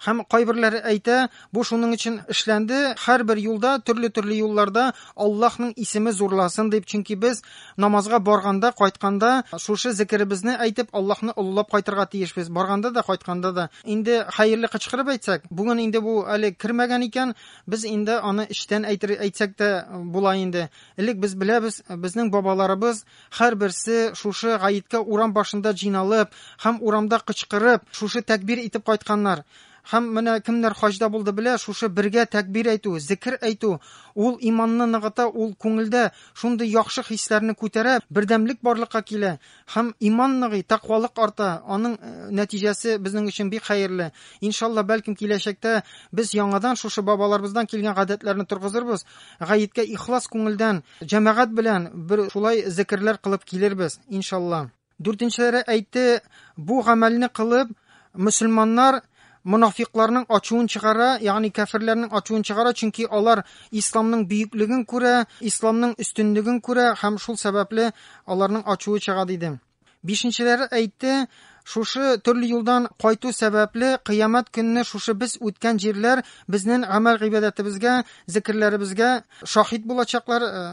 Һәм кайберләре әйтә, бу шуның өчен эшләнде, һәрбер юлда, төрле-төрле юлларда Аллаһның исеме зурласын дип, чөнки без намазга барганда, кайтканда шушы зикеребезне әйтеп, Аллаһны олылап кайтырга тиешбез. Барганда да, кайтканда да. Инде хәерле кычкырып әйтсәк, бүген инде бу әле кермәгән икән, без инде аны эчтән әйтер әйтсәк тә була инде. Элек без беләбез, безнең бабаларыбыз Һәрберсе шушы гаеткә урам башында җыйналып һәм урамда кычкырып, шушы тәкбир итеп кайтканнар. Һәм менә кемнәр хаҗда булды белә, шушы бергә тәкбир әйтү, зекер әйтү, ул иманны ныгыта, ул күңелдә шундый яхшы хисләрне күтәрә, бердәмлек барлыкка килә һәм иман ныгый, тәкъвалык арта, аның нәтиҗәсе безнең өчен бик хәерле. Иншалла, бәлкем киләчәктә без яңадан шушы бабаларыбыздан килгән гадәтләрне торгызырбыз, Гаеткә ихлас күңелдән, җәмәгать белән бер шулай зекерләр кылып килербез, иншалла. Дүртенчеләре әйтте, бу гамәлне кылып, мөселманнар монафикларның ачуын чыгара, ягъни кәферләрнең ачуын чыгара, чөнки алар исламның бөеклеген күрә, исламның өстенлеген күрә һәм шул сәбәпле аларның ачуы чыга диде. Бишенчеләре әйтте, шушы төрле юлдан кайту сәбәпле кыямәт көнне шушы без үткән җирләр безнең гамәл гыйбадәтебезгә, зикерләребезгә шаһит булачаклар э,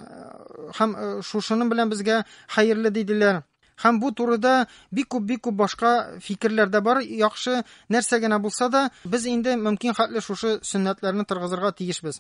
һәм э, шушының белән безгә хәерле диделәр. Һәм бу турыда бик күп бик күп башка фикерләр дә бар. Яхшы нәрсә генә булса да, без инде мөмкин хәтле шушы сөннәтләрне торгызырга тиешбез.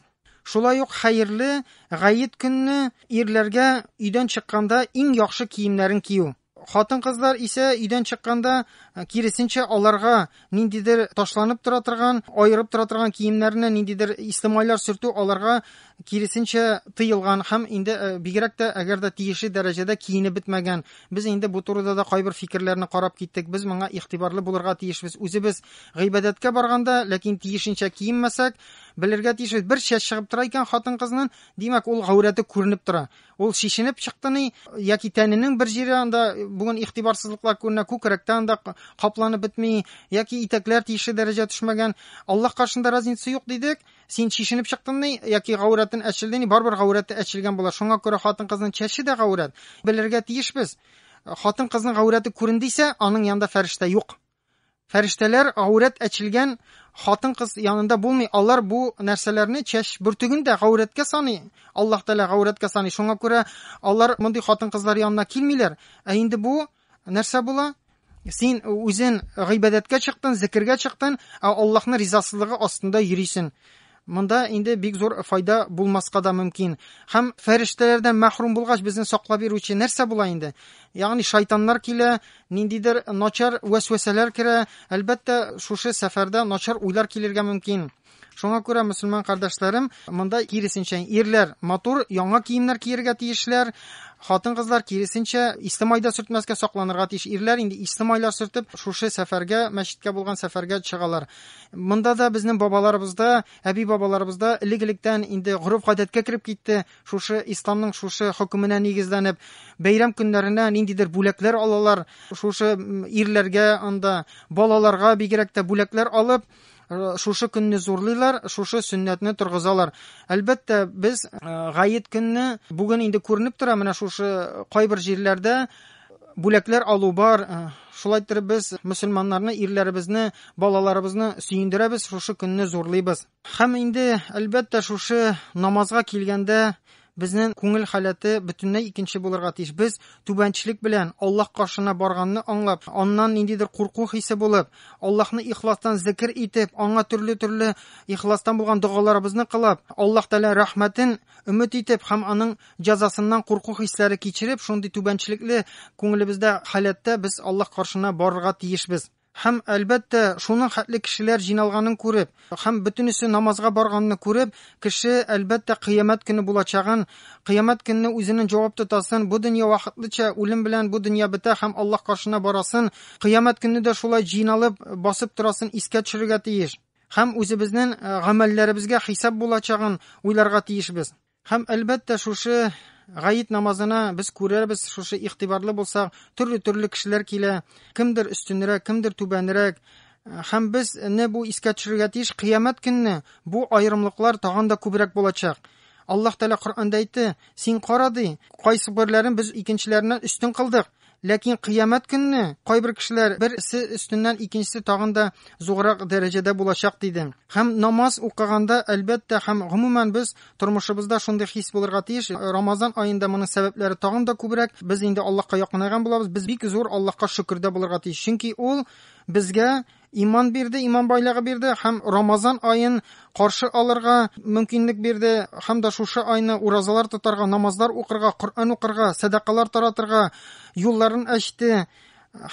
Шулай ук хәерле гает көнне ирләргә өйдән чыкканда иң яхшы киемнәрен кию. Хатын-кызлар исә өйдән чыкканда киресенчә аларга ниндидер ташланып тора торган, аерып тора торган киемнәренә ниндидер исле майлар сөртү аларга киресенчә тыелган һәм инде бигрәк тә әгәр дә тиешле дәрәҗәдә киенеп бетмәгән. Без инде бу турыда да кайбер фикерләрне карап киттек. Без моңа игътибарлы булырга тиешбез. Үзебез гыйбадәткә барганда, ләкин тиешенчә киенмәсәк, Белергә тиешбез, бер чәч чыгып тора икән хатын-кызның, димәк, ул гаурәте күренеп тора. Ул шешенеп чыкты ни, яки тәненең бер җире анда бүген игътибарсызлыклар күренә, күкрәктә анда капланып бетми, яки итәкләр тиешле дәрәҗә төшмәгән. Аллаһ каршында разница юк дидек. Син шешенеп чыктың ни, яки гаурәтен әчелде ни, барыбер гаурәте әчелгән була. Шуңа күрә хатын-кызның чәче дә гаурәт. Белергә тиешбез. Хатын-кызның гаурәте күрендисә, аның янында фәрештә юк. Фәрештәләр гаурәт әчелгән хатын-кыз янында булмый, алар бу нәрсәләрне, чәч бөртеген дә гаурәткә саный, Аллаһ Тәгалә гаурәткә саный, шуңа күрә алар мондый хатын-кызлар янына килмиләр. Ә инде бу нәрсә була? Син үзен гыйбадәткә чыктын, зекергә чыктын, ә Аллаһның ризасызлыгы астында йөрисен. Монда инде бик зур файда булмаска да мөмкин. Һәм фәрештәләрдән мәхрүм булгач, безне саклап йөрүче нәрсә була инде? Ягъни шайтаннар килә, ниндидер начар вәсвәсәләр керә. Әлбәттә, шушы сәфәрдә начар уйлар килергә мөмкин. Шуңа күрә, мөселман кардәшләрем, монда киресенчә, ирләр матур яңа киемнәр киергә тиешләр, хатын-кызлар киресенчә исле майда сөртмәскә сакланырга тиеш. Ирләр инде исле майлар сөртеп, шушы сәфәргә, мәчеткә булган сәфәргә чыгалар. Монда да безнең бабаларыбызда, әби бабаларыбызда элек-электән инде гореф-гадәткә кереп китте, шушы исламның шушы хөкеменә нигезләнеп, бәйрәм көннәренә ниндидер бүләкләр алалар, шушы ирләргә анда, балаларга бигрәк тә бүләкләр алып, э, шушы көнне зурлыйлар, шушы сөннәтне торгызалар. Әлбәттә, без э, гаед көнне бүген инде күренеп тора, менә шушы кайбер җирләрдә Бүләкләр алу бар. Э, шулай иттереп без мөселманнарны, ирләребезне, балаларыбызны сөендерәбез, шушы көнне зурлыйбыз. Һәм инде, әлбәттә, шушы намазга килгәндә безнең күңел халәте бөтенләй икенче булырга тиеш. Без түбәнчлек белән Аллаһ каршына барганны аңлап, аннан ниндидер курку хисе булып, Аллаһны ихластан зикр итеп, аңа төрле-төрле ихластан булган догаларыбызны кылып, Аллаһ Тәгалә рәхмәтен Өмет итеп һәм аның җәзасыннан курку хисләре кичереп, шундый түбәнчелекле күңелебездә халәттә без Аллаһ каршына барырга тиешбез. Һәм, әлбәттә, шуның хәтле кешеләр җыйналганын күреп, һәм бөтенесе намазга барганны күреп, кеше, әлбәттә, кыямәт көне булачагын, кыямәт көнне үзенен җавап тотасын, бу дөнья вакытлыча, үлем белән бу дөнья бетә һәм Аллаһ каршына барасын, кыямәт көнне дә шулай җыйналып, басып торасын искә төшерергә тиеш. Һәм үзебезнең гамәлләребезгә хисап булачагын уйларга тиешбез. Һәм әлбәттә шушы гаит намазына без күрербез, шушы игътибарлы булсак, төрле-төрле кешеләр килә, кемдер өстенрәк, кемдер түбәнрәк. Һәм без не бу искә төшерергә тиеш, кыямәт көнне бу аерымлыклар тагын да күбрәк булачак. Аллаһ Тәгалә Коръәндә әйтте, син кара ди, кайсы берләрен без икенчеләреннән өстен кылдык. Ләкин кыямәт көнне кайбер кешеләр берсе өстеннән икенчесе тагын да зуррак дәрәҗәдә булачак диде. Һәм намаз укыганда, әлбәттә, һәм гомумән без тормышыбызда шундый хис булырга тиеш. Рамазан аенда моның сәбәпләре тагын да күбрәк. Без инде Аллаһка якынайган булабыз. Без бик зур Аллаһка шөкердә булырга тиеш. Чөнки ул безгә Иман бирде, иман байлыгы бирде һәм Рамазан аен каршы алырга мөмкинлек бирде һәм дә шушы айны уразалар тотарга, намазлар укырга, Коръән укырга, сәдакалар таратырга юлларын ачты.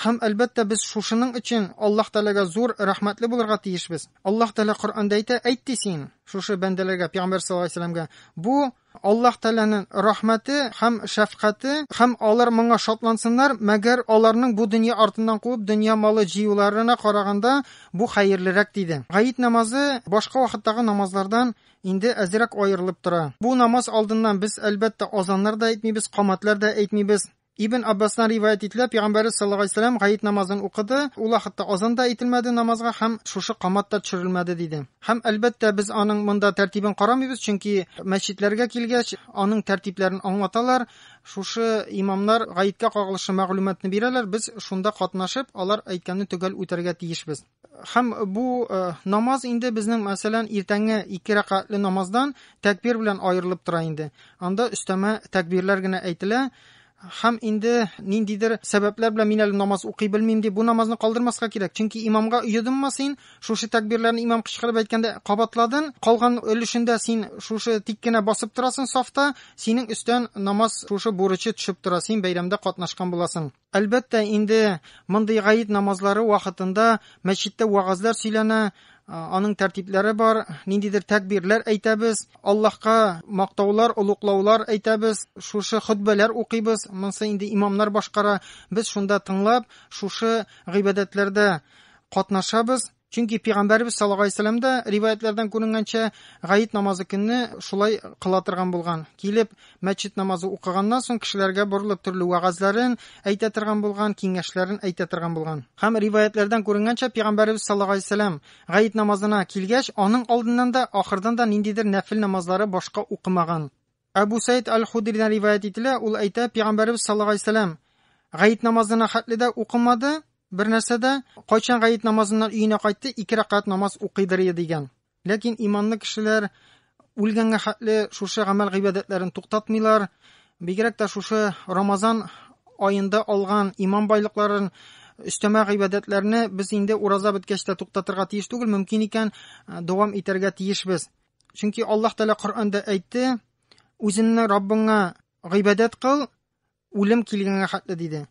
Һәм әлбәттә без шушының өчен Аллаһ Тәгаләгә зур рәхмәтле булырга тиешбез. Аллаһ Тәгалә Коръәндә әйтә, әйт ди син шушы бәндәләргә, пәйгамбәр саллаллаһу алейһи ва сәлләмгә, бу Аллаһ Тәгаләнең рәхмәте һәм шәфкате, һәм алар моңа шатлансыннар, мәгәр аларның бу дөнья артыннан куып дөнья малы җыюларына караганда бу хәерлерәк, диде. Гает намазы башка вакыттагы намазлардан инде әзрәк аерылып тора. Бу намаз алдыннан без, әлбәттә, азаннар да әйтмибез, камәтләр дә әйтмибез. Ибн Аббастан риваять ителә, пигамбәрез саллаллаһу алейһи ва сәлләм гает намазын укыды, ул вакытта азан да әйтелмәде намазга һәм шушы камат та төшерелмәде диде. Һәм, әлбәттә, без аның монда тәртибен карамыйбыз, чөнки мәчетләргә килгәч, аның тәртипләрен аңлаталар, шушы имамнар гаеткә кагылышлы мәгълүматны бирәләр, без шунда катнашып, алар әйткәнне төгәл үтәргә тиешбез. Хәм бу намаз инде безнең мәсәлән иртәнге ике рәкатле намаздан тәкбир белән аерылып тора инде. Анда өстәмә тәкбирләр генә әйтелә. Хәм инде ниндидер сәбәпләр белән мин әле намаз укый белмим дип, бу намазны калдырмаска кирәк. Чөнки имамга йодымма син, шушы тәкбирләрне имам кычкырып әйткәндә кабатладын, калган өлешендә син шушы тик кенә басып торасың сафта, синең өстән намаз шушы бурычы төшеп тора, син бәйрәмдә катнашкан буласың. Әлбәттә, инде мондый гаид намазлары вакытында мәчеттә вәгазьләр сөйләнә, аның тәртипләре бар, ниндидер тәкбирләр әйтәбез, Аллаһка мактаулар, олуклаулар әйтәбез, шушы хөтбәләр укыйбыз, монсы инде имамнар башкара, без шунда тыңлап, шушы гыйбадәтләрдә катнашабыз. Чөнки пигамбәрбез саллаллаһу алейһи вәсәлләм дә риваятләрдән күренгәнчә, гает намазы көнне шулай кыла торган булган. Килеп, мәчет намазы укыганнан соң кешеләргә борылып төрле вәгазьләрен әйтә торган булган, киңәшләрен әйтә торган булган. Һәм риваятләрдән күренгәнчә, пигамбәрбез саллаллаһу алейһи вәсәлләм гает намазына килгәч, аның алдыннан да, ахырдан да ниндидер нәфел намазлары башка укымаган. Әбү Сәид әл-Худридән риваять ителә, ул әйтә, Пәйгамбәрбез саллаллаһу алейһи вәсәләм гаит намазына хәтле дә укымады, бер нәрсә дә, кайчан гаит намазыннан өенә кайтты, ике рәкәт намаз укыйдыр иде дигән. Ләкин иманлы кешеләр үлгәнгә хәтле шушы гамәл гыйбадәтләрен туктатмыйлар, бигрәк тә шушы Рамазан аенда алган иман байлыкларын өстәмә гыйбадәтләрне без инде ураза беткәч тә туктатырга тиеш түгел, мөмкин икән, дәвам итәргә тиешбез. Чөнки Аллаһ Тәгалә Коръәндә әйтте, үзеңне Раббыңа гыйбадәт кыл, үлем килгәнгә хәтле диде.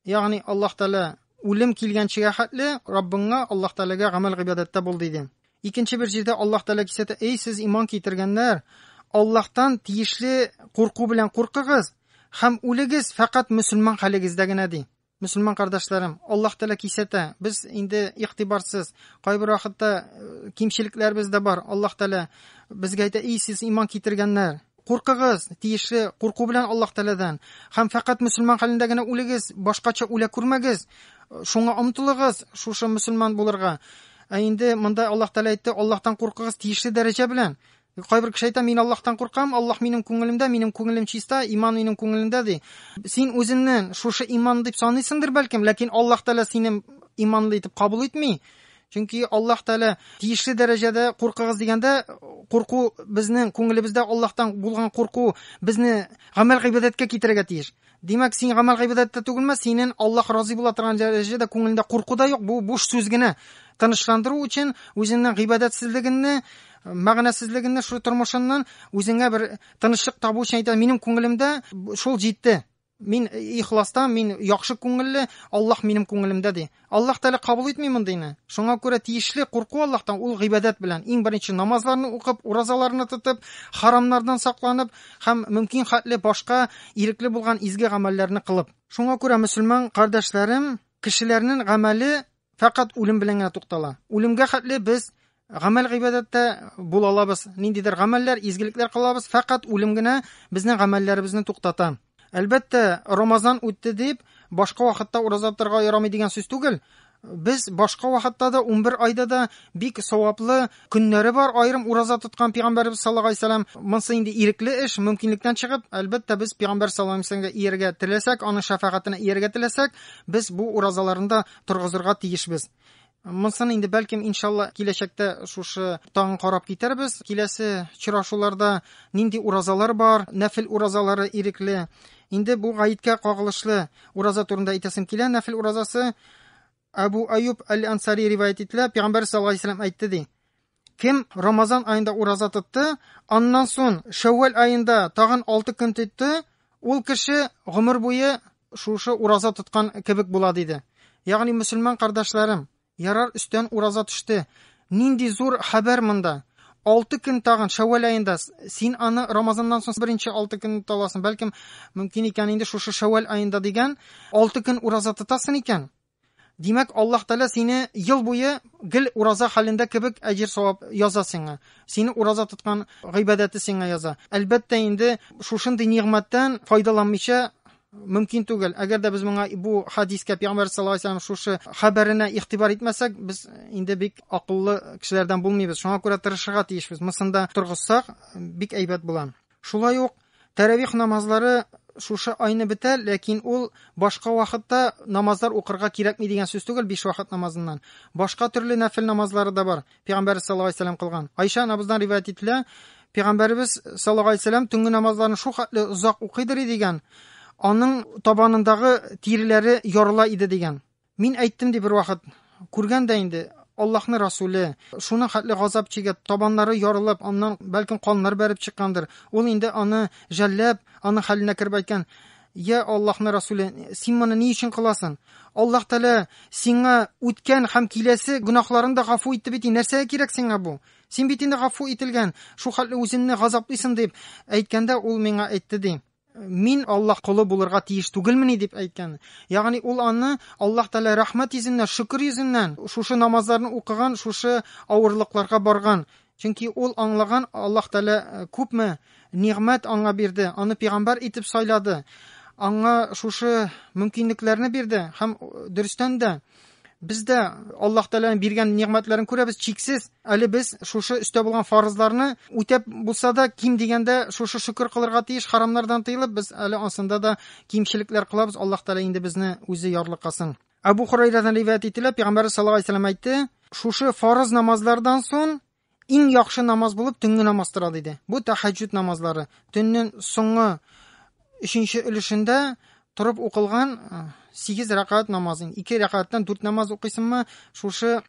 Ягъни Аллаһ Тәгалә үлем килгәнчегә хәтле Раббыңа Аллаһ Тәгаләгә гамәл гыйбадәттә бул диде. Икенче бер җирдә Аллаһ Тәгалә кисәтә, "Эй сез иман китергәннәр, Аллаһтан тиешле курку белән куркыгыз һәм үлегез фәкать мөселман хәлегездә генә" ди. Мөселман кардәшләрем, Аллаһ Тәгалә кисәтә. Без инде игътибарсыз, кайбер вакытта кимчелекләребез дә бар. Аллаһ Тәгалә безгә әйтә, "И сез иман китергәннәр, куркыгыз, тиешле курку белән Аллаһ Тәгаләдән, һәм фәкать мөселман хәлендә генә үлегез, башкача үлә күрмәгез. Шуңа омтылыгыз, шушы мөселман булырга". Ә инде монда Аллаһ Тәгалә әйтте, Аллаһтан куркыгыз тиешле дәрәҗә белән. Кайбер кеше әйтә, мин Аллаһтан куркам, Аллаһ минем күңелемдә, минем күңелем чиста, иман минем күңелемдә ди. Син үзеңне шушы иман дип саныйсыңдыр бәлкем, ләкин Аллаһ Тәгалә сине иманлы итеп кабул итми. Чөнки Аллаһ Тәгалә тиешле дәрәҗәдә куркыгыз дигәндә, курку безнең күңелебездә Аллаһтан булган курку безне гамәл гыйбадәткә китерергә тиеш. Димәк, син гамәл-гыйбадәттә түгелме? Синен Аллаһ разый була торган дәрәҗәдә күңелендә курку да юк, бу буш сүз генә. Тынычландыру өчен үзеңнең гыйбадәтсезлегеңне, мәгънәсезлегеңне шул тормышыннан үзеңә бер тынычлык табу өчен әйтә, минем күңелемдә шул җитте. Мин ихластан, мин яхшы күңелле, Аллаһ минем күңелемдә ди. Аллаһ Тәгалә кабул итми мондыйны. Шуңа күрә тиешле курку Аллаһтан ул гыйбадәт белән, иң беренче намазларны укып, уразаларны тотып, харамнардан сакланып һәм мөмкин хәтле башка ирекле булган изге гамәлләрне кылып. Шуңа күрә, мөселман кардәшләрем, кешеләрнен гамәле фәкать үлем белән генә туктала. Үлемгә хәтле без Гамәл гыйбадәттә бул алабыз, ниндидер гамәлләр, изгелекләр кылабыз, фәкать үлем генә безнең гамәлләребезне туктата. Әлбәттә, Рамазан үтте дип, башка вакытта ураза тотарга ярамый дигән сүз түгел. Без башка вакытта да 11 айда да бик саваплы көннәре бар. Аерым ураза тоткан пәйгамбәрбез саллаллаһу алейһи вәсәлләм, монсы инде ирекле эш, мөмкинлектән чыгып, әлбәттә, без пәйгамбәр саллаллаһу алейһи вәсәлләмгә ияргә теләсәк, аның шәфәгатенә ияргә теләсәк, без бу уразаларында торгызырга тиешбез. Монсын инде бәлкем иншалла киләчәктә шушы таң карап китәрбез. Киләсе чырашуларда нинди уразалар бар, нәфил уразалары ирекле. Инде бу гаеткә кагылышлы ураза турында әйтәсем килә. Нәфил уразасы Абу Аюб әл-Ансари риваят ителә, пәйгамбәр саллаллаһу алейһи ва әйтте ди. Кем Рамазан аенда ураза тотты, аннан сон Шәввәл аенда тагын 6 көн тотты, ул кеше гомер буе шушы ураза тоткан кебек була диде. Ягъни мөселман кардәшләрем, ярар өстән ураза төште. Нинди зур хәбәр монда. 6 көн тагын Шәввәл аенда син аны Рамазаннан соң беренче 6 көн таласың, бәлкем мөмкин икән инде шушы Шәввәл аенда дигән 6 көн ураза тотасың икән. Димәк, Аллаһ Тәгалә сине ел буе гел ураза хәлендә кебек әҗер-савап яза сиңа. Сине ураза тоткан гыйбадәте сиңа яза. Әлбәттә инде, шушындый нигъмәттән файдаланмыйча мөмкин түгел. Әгәр дә без моңа бу хадискә пәйгамбәр саллаллаһу алейһи ва сәлләм шушы хәбәренә игътибар итмәсәк, без инде бик акыллы кешеләрдән булмыйбыз. Шуңа күрә тырышырга тиешбез. Мусында торгызсак, бик әйбәт була. Шулай ук тәравих намазлары шушы айны бетә, ләкин ул башка вакытта намазлар укырга кирәкми дигән сүз түгел, биш вакыт намазыннан. Башка төрле нәфил намазлары да бар. Пәйгамбәр саллаллаһу алейһи вәсәлләм кылган. Айша анабыздан риваять ителә, Пәйгамбәрбез саллаллаһу алейһи вәсәлләм төнге намазларын шул хәтле озак укыйдыр дигән, аның табанындагы тиреләре ярыла иде дигән. Мин әйттем, ди, бервакыт, Күргән дә инде, Аллаһның Расүле, шуның хәтле газап чигеп, табаннары ярылып, аннан, бәлкем, каннар бәреп чыккандыр. Ул инде аны жәлләп, аның хәленә кереп әйткән, Йә, Аллаһның Расүле, син моны ни өчен кыласың? Аллаһ Тәгалә сиңа үткән һәм киләсе гөнаһларын да гафу итте бит, нәрсәгә кирәк сиңа бу? Син бит инде гафу ителгән, шул хәтле үзеңне газаплыйсың, дип әйткәндә, ул миңа әйтте, ди. мин Аллаһ колы булырга тиеш түгелмени дип әйткән. Ягъни ул аны Аллаһ Тәгалә рәхмәт йөзеннән, шөкер йөзеннән шушы намазларны укыган, шушы авырлыкларга барган. Чөнки ул аңлаган Аллаһ Тәгалә э, күпме нигъмәт аңа бирде, аны пигамбар итеп сайлады. Аңа шушы мөмкинлекләрне бирде һәм э, дөрестән дә Без дә Аллаһ Тәгаләнең биргән нигъмәтләрен күрәбез, чиксез. Әле без шушы өстә булган фарызларны үтәп булса да, ким дигәндә шушы шөкер кылырга тиеш, харамнардан тыелып, без әле ансында да кимчелекләр кылабыз. Аллаһ Тәгалә инде безне үзе ярлыкасын. Абу Хурайрадан риваят ителә, Пәйгамбәр саллаллаһу алейһи ва сәлләм әйтте, шушы фарыз намазлардан соң Иң яхшы намаз булып төнге намаз тора диде. Бу тәһәҗҗүд намазлары. Төннең соңгы өченче өлешендә торып укылган 8 рәкәт намаз. 2 рәкәттән 4 намаз укыйсыңмы? Шушы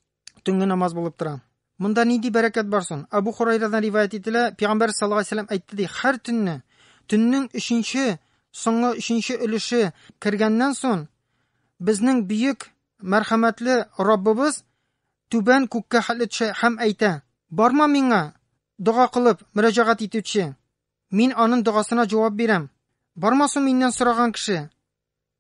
төнге намаз булып тора. Монда нинди бәрәкәт бар соң? Абу Хурайрадан риваять ителә, Пәйгамбәр саллаллаху алейһи ва әйтте ди, һәр төнне төннең өченче, соңгы өченче өлеше кергәннән соң, безнең бөек мәрхәмәтле Раббыбыз түбән күккә хәтле төшә һәм әйтә, Барма миңа, дога кылып, мөрәҗәгать итүче. Мин анын догасына җавап бирәм. Барма су миннән сораган кеше.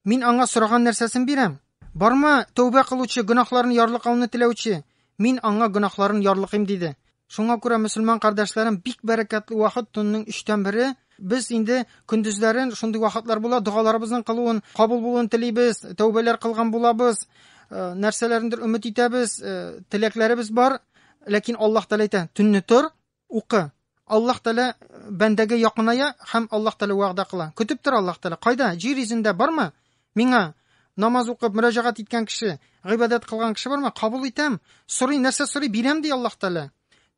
Мин аңа сораган нәрсәсен бирәм. Барма, тәүбә кылучы, гөнаһларын ярлыкауны теләүче. Мин аңа гөнаһларын ярлыкыйм, диде. Шуңа күрә, мөселман кардәшләрем, бик бәрәкәтле вакыт, төннең өчтән бере, без инде көндезләрен шундый вакытлар була, догаларыбызның кылуын, кабул булуын телибез, тәүбәләр кылган булабыз, э, нәрсәләрендер өмет итәбез, э, теләкләребез бар, ләкин Аллаһ Тәгалә әйтә, төнне тор, укы. Аллаһ Тәгалә э, бәндәгә якыная һәм Аллаһ Тәгалә вәгъдә кыла. Көтеп тор Аллаһ Тәгалә. Кайда? Җир йөзендә бармы? Миңа намаз укып, мөрәҗәгать иткән кеше, гыйбадәт кылган кеше бармы? Кабул итәм. Сорый, нәрсә сорый? Бирәм ди Аллаһ Тәгалә.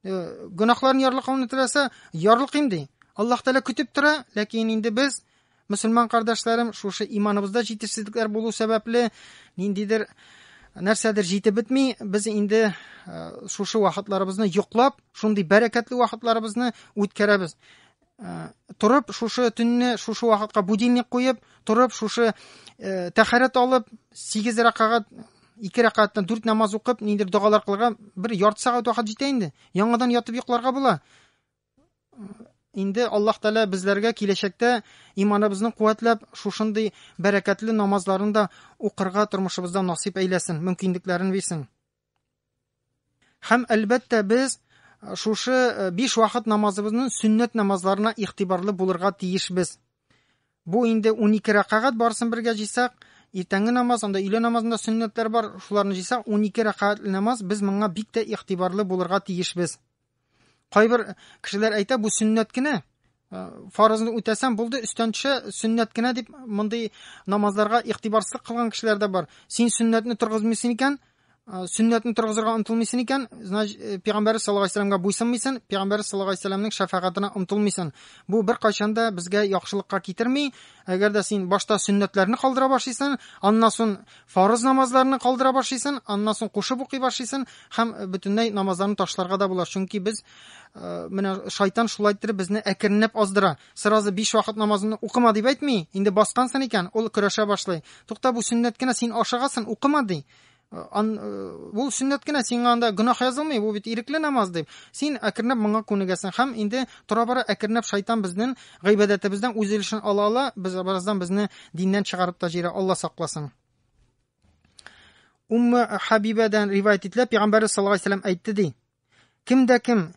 Э, гөнаһларын ярлыкауны теләсә, ярлыкыйм ди. Аллаһ Тәгалә көтеп тора, ләкин инде без мөселман кардәшләрем шушы иманыбызда җитешсезлекләр булу сәбәпле ниндидер нәрсәдер җитеп бетми, без инде э, шушы вакытларыбызны йоклап, шундый бәрәкәтле вакытларыбызны үткәрәбез. Э, торып шушы төнне шушы вакытка будильник куеп торып шушы э, тәхәрәт алып сигез рәкәгать ике рәкәгатьтән дүрт намаз укып ниндидер догалар кылырга бер ярты сәгать вакыт җитә инде яңадан ятып йокларга була э, инде аллаһ тәала безләргә киләчәктә иманыбызны куәтләп шушындый бәрәкәтле намазларын да укырга тормышыбызда насыйп әйләсен мөмкинлекләрен бирсен Һәм әлбәттә без шушы биш вакыт намазыбызның сөннәт намазларына игътибарлы булырга тиешбез. Бу инде 12 рәкагать барсын бергә җыйсак, иртәнге намаз, анда өйлә намазында сөннәтләр бар, шуларны җыйсак 12 рәкагать намаз, без моңа бик тә игътибарлы булырга тиешбез. Кайбер кешеләр әйтә, бу сөннәт кенә. Э, фарызны үтәсәм булды, өстән төшә, сөннәт кенә дип мондый намазларга игътибарсыз кылган кешеләр дә бар. Син сөннәтне торгызмыйсың икән, Э, сөннәтне торгызырга омтылмыйсын икән, значит, э, пәйгамбәр саллаллаһу алейһи вәсәләмгә буйсынмыйсын, пәйгамбәр саллаллаһу алейһи вәсәләмнең шәфәгатенә омтылмыйсын. Бу бер кайчан да безгә яхшылыкка китерми. Әгәр дә син башта сөннәтләрне калдыра башлыйсың, аннан соң Фарыз намазларны калдыра башлыйсын, аннан соң кушып укый башлыйсын һәм бөтенләй намазларны ташларга да була, чөнки без менә шайтан шулай иттереп безне әкренләп аздыра. Сразу 5 вакыт намазын укыма дип әйтми, инде баскансын икән, ул көрәшә башлый. Тукта, бу сөннәт кенә, син ашыгасын, укыма ди. Ан, бу сөннәт кенә, сиңа анда гөнаһ язылмый, бу бит ирекле намаз дип. Син әкренләп моңа күнегәсең һәм инде тора-бара әкренләп шайтан безнең Гыйбадәтебездән үз өлешен ала ала, без бераздан безне диннән чыгарып та җирә, Алла сакласын. Умма Хабибадан ривайт ителә, пәйгамбәр саллаллаһу алейһи ва әйтте ди. Кем дә кем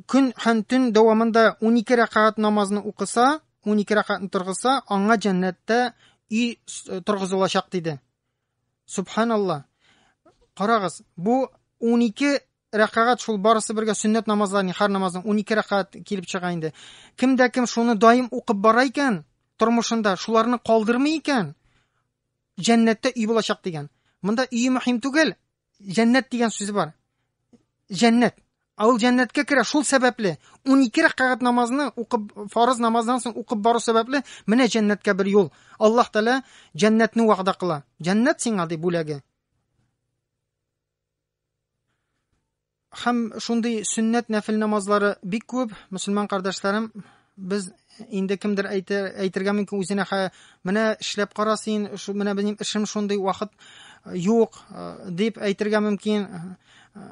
көн һәм төн дәвамында 12 рәкәгать намазны укыса, 12 рәкәгатьне торгызса, аңа җәннәттә үй торгызылачак диде. Субханалла. Карагыз, бу 12 рәкәгать шул барысы бергә сөннәт намазлар, нихар намазының 12 рәкәгать килеп чыга инде. Кемдә кем шуны даим укып бара икән, тормышында шуларны калдырмый икән, җәннәттә өй булачак дигән. Монда өй мөһим түгел, Җәннәт дигән сүз бар. Җәннәт. Ә ул җәннәткә керә шул сәбәпле. 12 рәкәгать намазны укып фарыз намаздан соң укып бару сәбәпле менә җәннәткә бер юл. Аллаһ Тәала җәннәтне вәгъдә кыла. Җәннәт сиңа ди бүләге. Һәм шундый сөннәт нәфел намазлары бик күп, мөселман кардәшләрем, без инде кемдер әйтер, әйтергә мөмкин үзенә хә, менә эшләп кара син, шу, менә минем эшем шундый, вакыт э, юк, э, дип әйтергә мөмкин. Э,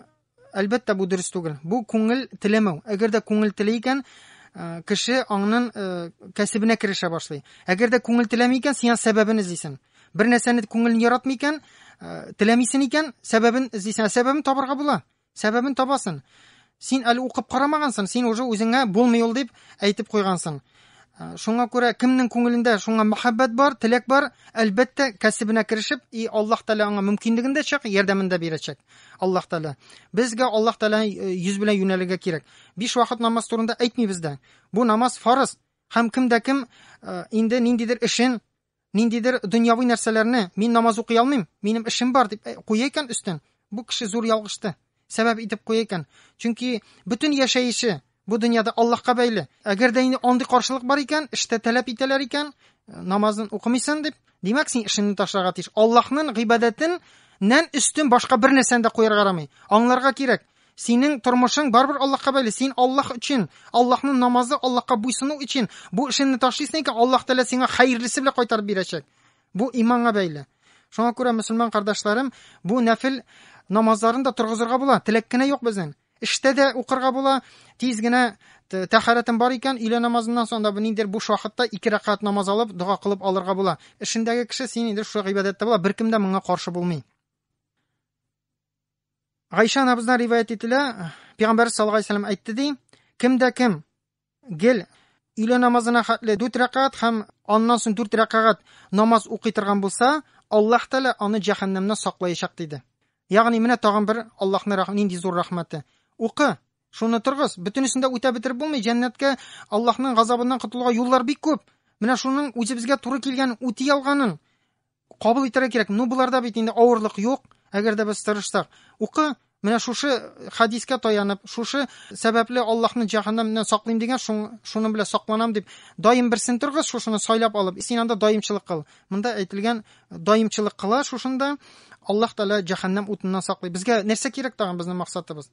әлбәттә, бу дөрес түгел. Бу күңел теләмәү. Әгәр дә күңел теләй икән, кеше аңнын кәсебенә керешә башлый. Әгәр дә күңел теләми икән, сиңа сәбәбен эзлисең. Бер нәрсәне күңелен яратмый икән, э, теләмисен икән, сәбәбен эзлисен, сәбәбен табарга була. Сәбәбен табасын. Син әле укып карамагансың, син уже үзеңә булмый ул дип әйтеп куйгансың. Э, шуңа күрә кемнең күңелендә шуңа мәхәббәт бар, теләк бар, әлбәттә, кәсебенә керешеп, и Аллаһ Тәгалә аңа мөмкинлеген дә чак, ярдәмен дә бирәчәк. Аллаһ Тәгалә. Безгә Аллаһ Тәгалә э, йөз белән юнәлергә кирәк. Биш вакыт намаз турында әйтмибез дә. Бу намаз фарыз. Һәм кем дә кем э, инде ниндидер эшен Ниндидер дөньяви нәрсәләрне, мин намаз укый алмыйм, минем эшем бар дип куя икән өстен, бу кеше зур ялгышты. Сәбәп итеп куя икән. Чөнки бөтен яшәеше бу дөньяда Аллаһка бәйле. Әгәр дә инде андый каршылык бар икән, эштә тәләп итәләр икән, намазын укымыйсын дип, димәк син эшеңне ташларга тиеш. Аллаһның гыйбадәтен нән өстен башка бер нәрсәне дә куярга ярамый. Аңларга кирәк, Синең тормышың барбер Аллаһка бәйле. Син Аллаһ өчен, Аллаһның намазы, Аллаһка буйсыну өчен бу эшеңне ташлыйсың икән, Аллаһ Тәгалә сиңа хәерлесе белән кайтарып бирәчәк. Бу иманга бәйле. Шуңа күрә, мөселман кардәшләрем, бу нәфил намазларын да торгызырга була. Теләк кенә юк безнең. Эштә дә укырга була, тиз генә тәхәрәтем бар икән, өйлә намазыннан соң да ниндидер буш вакытта ике рәкәт намаз алып, дога кылып алырга була. Эшендәге кеше син инде шушы гыйбадәттә була, беркем дә моңа каршы булмый. Гайша анабыздан риваять ителә, Пәйгамбәрбез саллаллаху алейһи вәсәлләм әйтте ди, кемдә кем гел өйлә намазына хәтле 4 рәкәгать һәм аннан соң 4 рәкәгать намаз укый торган булса, Аллаһ Тәгалә аны җәһәннәмнән саклаячак диде. Ягъни менә тагын бер Аллаһның нинди зур рәхмәте. Укы, шуны торгыз, бөтенесен дә үтә бетереп булмый, җәннәткә Аллаһның газабыннан котылуга юллар бик күп. Менә шуның үзе безгә туры килгән үти алганын кабул итәргә кирәк. Ну, боларда бит инде авырлык юк, әгәр дә без тырышсак. Укы, менә шушы хәдискә таянып, шушы сәбәпле Аллаһны җәһәннәмнән саклыйм дигән, шуның белән сакланам дип, даим берсен торгыз, шушыны сайлап алып, син анда даимчылык кыл. Монда әйтелгән даимчылык кыла, шушында Аллаһ Тәгалә җәһәннәм утыннан саклый. Безгә нәрсә кирәк тагын безнең максатыбыз?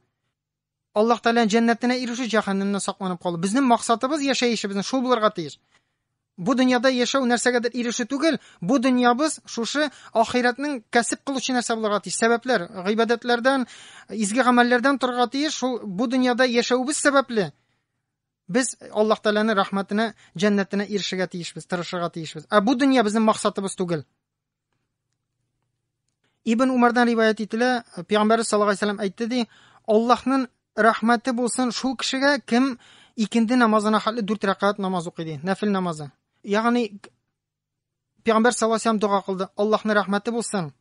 Аллаһ Тәгаләнең җәннәтенә ирешү, җәһәннәмнән сакланып калу. Безнең максатыбыз яшәешебезнең шул булырга тиеш. Бу дөньяда яшәү нәрсәгәдер ирешү түгел, бу дөньябыз шушы ахирәтнең кәсеп кылучы нәрсә булырга тиеш. Сәбәпләр, гыйбадәтләрдән, изге гамәлләрдән торырга тиеш. Шул бу дөньяда яшәвебез сәбәпле без Аллаһ Тәгаләнең рәхмәтенә, җәннәтенә ирешергә тиешбез, тырышырга тиешбез. Ә бу дөнья безнең максатыбыз түгел. Ибн Умардан риваят ителә, Пәйгамбәр саллаллаху алейһи вәсәлләм әйтте ди, Аллаһның рәхмәте булсын шул кешегә, кем икенде намазына хәтле дүрт рәкәт намаз укый ди, нәфил намазы. Ягъни Пәйгамбәр саллаллаху алейһи дога кылды, Аллаһның рәхмәте булсын.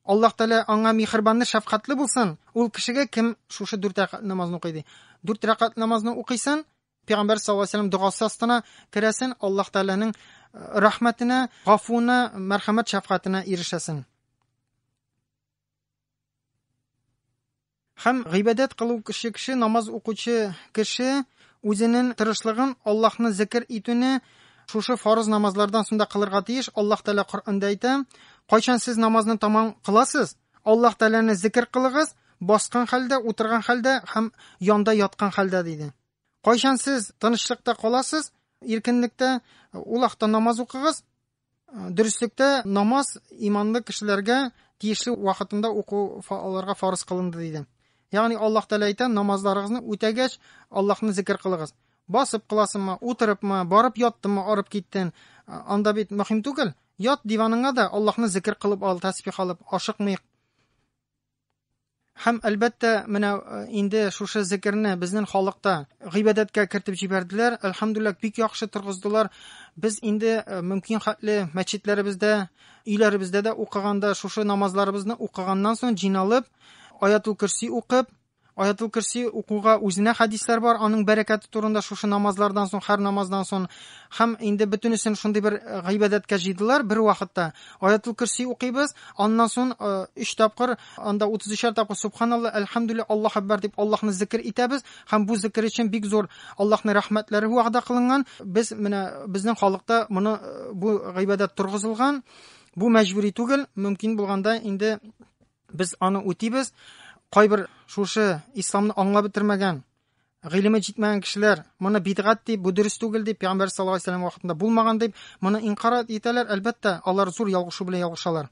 Аллаһ Тәгалә аңа михрибанны, шәфкатьле булсын. Ул кешегә кем шушы дүрт рәкәт намазны укый ди. Дүрт рәкәт намазны укыйсың, Пәйгамбәр саллаллаһу алейһи ва сәлләм догасы астына керәсен, Аллаһ Тәгаләнең э, рәхмәтенә, гафуына, мәрхәмәт шәфкатенә ирешәсен. Һәм гыйбадәт кылу кеше кеше, намаз укучы кеше үзенең тырышлыгын Аллаһны зикр итүне шушы фарыз намазлардан соң да кылырга тиеш. Аллаһ Тәгалә Коръәндә әйтә, кайчан сез намазны тамам кыласыз, Аллаһ Тәгаләне зикер кылыгыз, баскан хәлдә, утырган хәлдә һәм янда яткан хәлдә, диде. Кайчан сез тынычлыкта каласыз, иркенлектә, ул вакытта намаз укыгыз. Дөреслектә намаз иманлы кешеләргә тиешле вакытында уку аларга фарыз кылынды, диде. Ягъни Аллаһ Тәгалә әйтә, намазларыгызны үтәгәч, Аллаһны зикер кылыгыз. Басып кыласынмы, утырыпмы, барып яттынмы, арып киттен, анда бит мөһим түгел. Ят диваныңа да Аллаһны зикер кылып ал, тәсбих алып, ашыкмыйк. Һәм әлбәттә, менә э, инде шушы зикерне безнең халыкта гыйбадәткә кертеп җибәрделәр. Әлхәмдуллах, бик яхшы торгыздылар. Без инде э, мөмкин хәтле мәчетләребездә, өйләребездә дә укыганда шушы намазларыбызны укыганнан соң җыйналып, аятул көрси укып, Аятул Көрси укуга үзенә хәдисләр бар, аның бәрәкәте турында шушы намазлардан соң, һәр намаздан соң һәм инде бөтенесен шундый бер э, гыйбадәткә җыйдылар бер вакытта. Аятул Көрси укыйбыз, аннан соң 3 э, тапкыр, анда 33 тапкыр субханалла, әлхәмдүлилләһ, Аллаһ акбар дип Аллаһны зикр итәбез һәм бу зикр өчен бик зур Аллаһның рәхмәтләре вәгъдә кылынган. Без менә безнең халыкта моны э, бу гыйбадәт торгызылган. Бу мәҗбүри түгел, мөмкин булганда инде Без аны үтибез. Кайбер шушы исламны аңлап бетермәгән, гыйлеме җитмәгән кешеләр моны бидгат дип, бу дөрес түгел дип, пәйгамбәр саллаллаху алейһи вәсәлләм вакытында булмаган дип, моны инкар итәләр. Әлбәттә, алар зур ялгышу белән ялгышалар.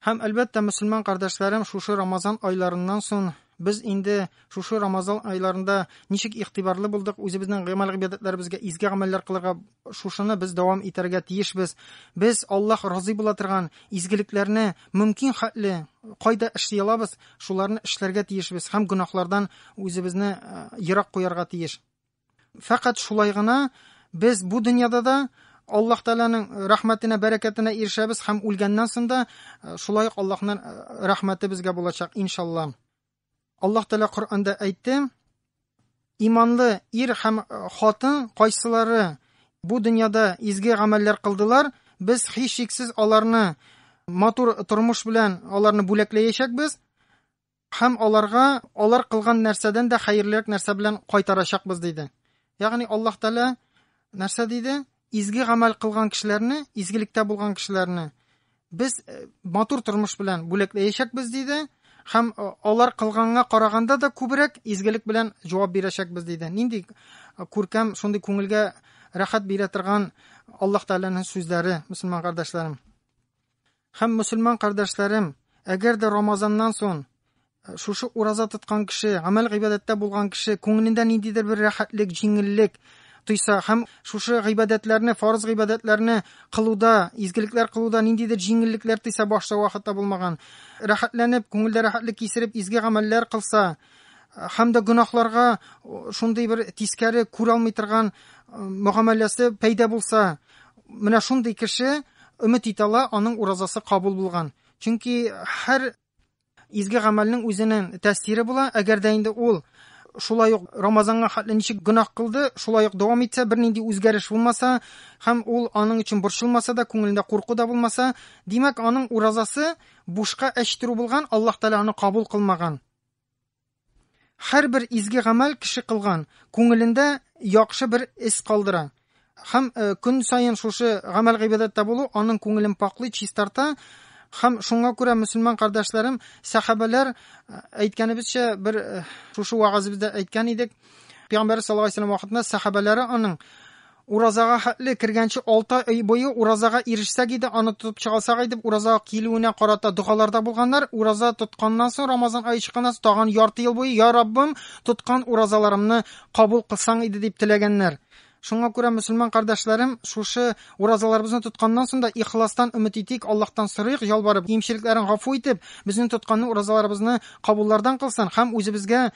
Һәм әлбәттә, мөселман кардәшләрем шушы Рамазан айларыннан соң Без инде шушы Рамазан айларында ничек игътибарлы булдык, үзебезнең гамәл гыйбадәтләребезгә, изге гамәлләр кылырга, шушыны без дәвам итәргә тиешбез. Без Аллаһ разый була торган изгелекләрне мөмкин хәтле кайда эшли алабыз, шуларны эшләргә тиешбез һәм гөнаһлардан үзебезне э, ерак куярга тиеш. Фәкать шулай гына без бу дөньяда да Аллаһ Тәгаләнең рәхмәтенә, бәрәкәтенә ирешәбез һәм үлгәннән соң да э, шулай ук Аллаһның э, рәхмәте безгә булачак, иншалла. Аллаһ Тәгалә Коръәндә әйтте: "Иманлы ир һәм э, хатын кайсылары бу дөньяда изге гамәлләр кылдылар, без һичшиксез аларны матур тормыш белән аларны бүләкләячәкбез, Һәм аларга алар кылган нәрсәдән дә хәерлерәк нәрсә белән кайтарачакбыз, диде. Ягъни Аллаһ Тәгалә нәрсә диде? Изге гамәл кылган кешеләрне, изгелектә булган кешеләрне без э, матур тормыш белән бүләкләячәкбез, диде. Һәм э, алар кылганга караганда да күбрәк изгелек белән җавап бирәчәкбез, диде. Нинди э, күркәм, шундый күңелгә рәхәт бирә торган Аллаһ Тәгаләнең сүзләре, мөселман кардәшләрем. Һәм, мөселман кардәшләрем, әгәр дә Рамазаннан сон э, шушы ураза тоткан кеше, гамәл гыйбадәттә булган кеше күңелендә ниндидер бер рәхәтлек, җиңеллек тойса һәм шушы гыйбадәтләрне, фарыз гыйбадәтләрне кылуда, изгелекләр кылуда ниндидер җиңеллекләр тойса башта вакытта булмаган, рәхәтләнеп, күңелдә рәхәтлек кисереп, изге гамәлләр кылса, һәм дә гөнаһларга шундый бер тискәре күрә алмый торган мөгамәләсе пәйда булса, Менә шундый кеше өмет итә ала, аның уразасы кабул булган. Чөнки һәр изге гамәлнең үзенең тәэсире була, әгәр дә инде ул шулай ук Рамазанга хәтле ничек гөнаһ кылды, шулай ук дәвам итсә, бернинди үзгәреш булмаса һәм ул аның өчен борчылмаса да, күңелендә курку да булмаса, димәк, аның уразасы бушка әчтерү булган, Аллаһ Тәгалә аны кабул кылмаган. Һәрбер изге гамәл кеше кылган күңелендә яхшы бер эз калдыра. Һәм э, көн саен шушы гамәл гыйбадәттә булу аның күңелен паклый, чистарта. Һәм шуңа күрә мөселман кардәшләрем, сәхабәләр э, әйткәнебезчә бер э, шушы вагазыбызда әйткән идек. Пәйгамбәр саллаллаһу алейһи вәсәлләм вакытында сәхабәләре аның Уразага хәтле, кергәнче алты ай буе уразага ирешсәк иде, аны тотып чыгасак иде, уразага килүенә карата догаларда булганнар, ураза тотканнан соң, Рамазан ае чыкканнан соң тагын ярты ел буе, Я Раббым, тоткан уразаларымны кабул кылсаң иде, дип теләгәннәр. Шуңа күрә, мөселман кардәшләрем, шушы уразаларыбызны тотканнан соң да ихластан өмет итик, Аллаһтан сорыйк, ялварып, кимчелекләрен гафу итеп, безнең тотканны уразаларыбызны кабуллардан кылсын һәм үзебезгә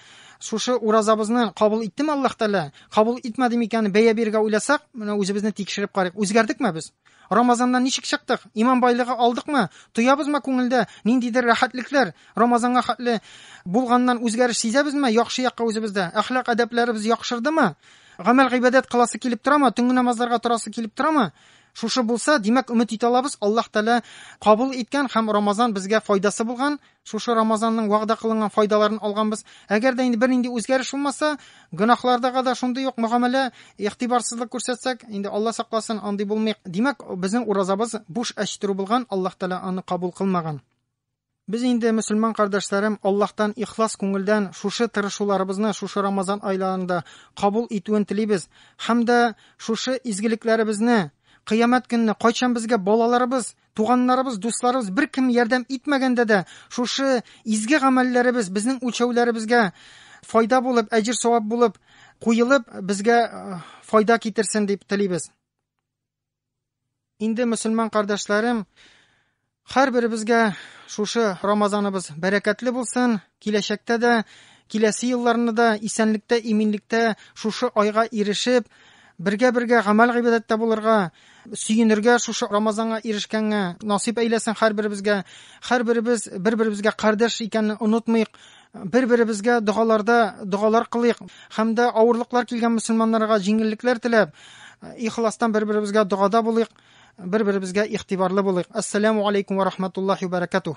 шушы уразабызны кабул иттеме Аллаһ Тәгалә, Кабул итмәде микән? Бәя бирергә уйласак, менә үзебезне тикшереп карыйк. Үзгәрдекме без? Рамазаннан ничек чыктык? Иман байлыгы алдыкмы? Тоябызмы күңелдә ниндидер рәхәтлекләр? Рамазанга хәтле булганнан үзгәреш сизәбезме? Яхшы якка үзебездә әхлак әдәпләребез яхшырдымы? Гамәл гыйбадәт кыласы килеп торамы? Төнге намазларга торасы килеп торамы? Шушы булса, димәк, өмет итә алабыз, Аллаһ Тәгалә кабул иткән һәм Рамазан безгә файдасы булган, Шушы Рамазанның вәгъдә кылынган файдаларын алганбыз. Әгәр дә инде бернинди үзгәреш булмаса, гөнаһлардага да шундый ук мөгамәлә, игътибарсызлык күрсәтсәк, инде Алла сакласын, андый булмыйк. Димәк, безнең уразабыз буш әч тору булган, Аллаһ Тәгалә аны кабул кылмаган. Без инде, мөселман кардәшләрем, Аллаһтан ихлас күңелдән шушы тырышуларыбызны шушы Рамазан айларында кабул итүен телибез һәм дә шушы изгелекләребезне, кыямәт көнне кайчан безгә балаларыбыз Туганнарыбыз, дусларыбыз беркем ярдәм итмәгәндә дә, шушы изге гамәлләребез безнең үлчәүләребезгә файда булып, әҗер савап булып куелып, безгә э, файда китерсен дип телибез. Инде мөселман кардәшләрем, һәрберебезгә шушы Рамазаныбыз бәрәкәтле булсын, киләчәктә дә, киләсе елларны да исәнлектә, иминлектә шушы айга ирешеп, Бергә-бергә гамәл-гыйбадәттә булырга, сөенергә шушы Рамазанга ирешкәнгә, насыйп әйләсен һәрберебезгә. Һәрберебез бер-беребезгә кардәш икәнне онытмыйк. Бер-беребезгә догаларда догалар кылыйк һәм дә авырлыклар килгән мөселманнарга җиңеллекләр теләп, ихластан бер-беребезгә догада булыйк, бер-беребезгә игътибарлы булыйк. Ассаламу алейкум ва рахматуллахи ва баракатуһ.